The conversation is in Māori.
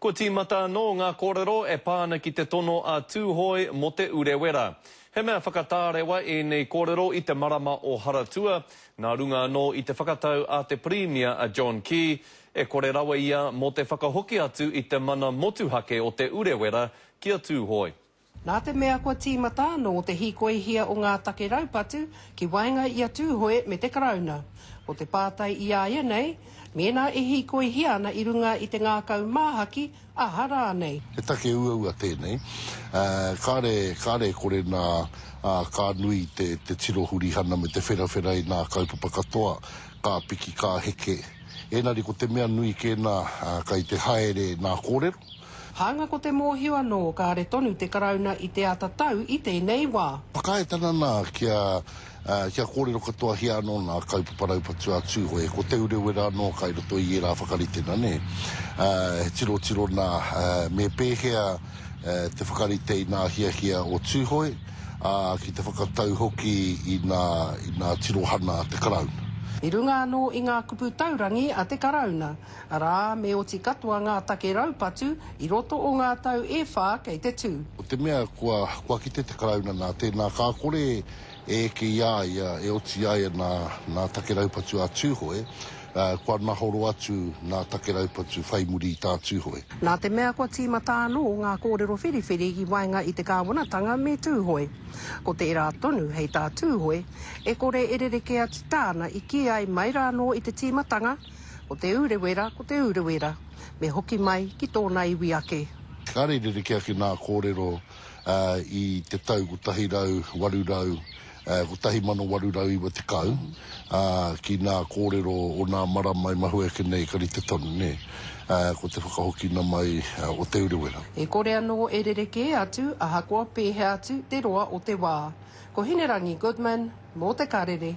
Kua tīmata anō ngā kōrero e pā ana ki te tono a Tūhoe mō Te Urewera. He mea whakatārewa ēnei kōrero i te marama o Haratua, nā runga anō i te whakatau a te Pirimia a John Key, e kore rawa ia mō te whakahoki atu i te mana motuhake o Te Urewera ki a Tūhoe. Nā te mea kua tīmata anō te hīkoihia o ngā take raupatu ki waenga i a Tūhoe me te Karauna, ko te pātai i a ia nei, mēnā e hīkoihia ana i runga i te ngākau māhaki, aha rānei? He take uaua tēnei, ā, kāre, kāre e kore nā, ā, ka nui te, te tiro hurihana me te wherawhera i nā kaupapa katoa, ka piki, ka heke. Ēnari ko te mea nui kē nā, ā, kei te haere nā kōrero, Hāunga ko te mōhio anō kāre tonu te Karauna i te āta tau i tēnei wā. Whakaae tana nā kia kia kōrero katoahia anō nā kaupapa raupatu a Tūhoe, ko Te Urewera anō kai roto i ērā whakaritenga nē. He tirotiro nā me pēhea te whakarite i nā hiahia o Tūhoe, ā, ki te whakatau hoki i nā i nā tirohana a te Karauna. I runga anō i ngā kupu taurangi a te Karauna, Arā, me oti katoa ngā take raupatu i roto o ngā tau e whā kei te tū. Ko te mea, kua kite te Karauna nā tēnā ka kore e eke i a ia e oti ai ana nā take raupatu a Tūhoe, kua nahoro atu nā take raupatu whai muri i tā Tūhoe. Nā te mea kua tīmata anō ngā kōrero whiriwhiri i waenga i te kāwanatanga me Tūhoe. Ko tērā tonu hei tā Tūhoe, e kore e rerekē atu tāna i kī ai mai rānō i te tīmatanga, Ko Te Urewera, ko Te Urewera. Me hoki mai ki tōna iwi ake. Kāre rerekē ake nā kōrero i te tau 1890, ki nā kōrero o nā marama e mahue ake nei ka rite tonu, nē, ko te whakahokina mai o Te Urewera. E kore anō e rerekē atu ahakoa pēhea atu te roa o te wā. Ko Hinerangi Goodman mō Te Karere.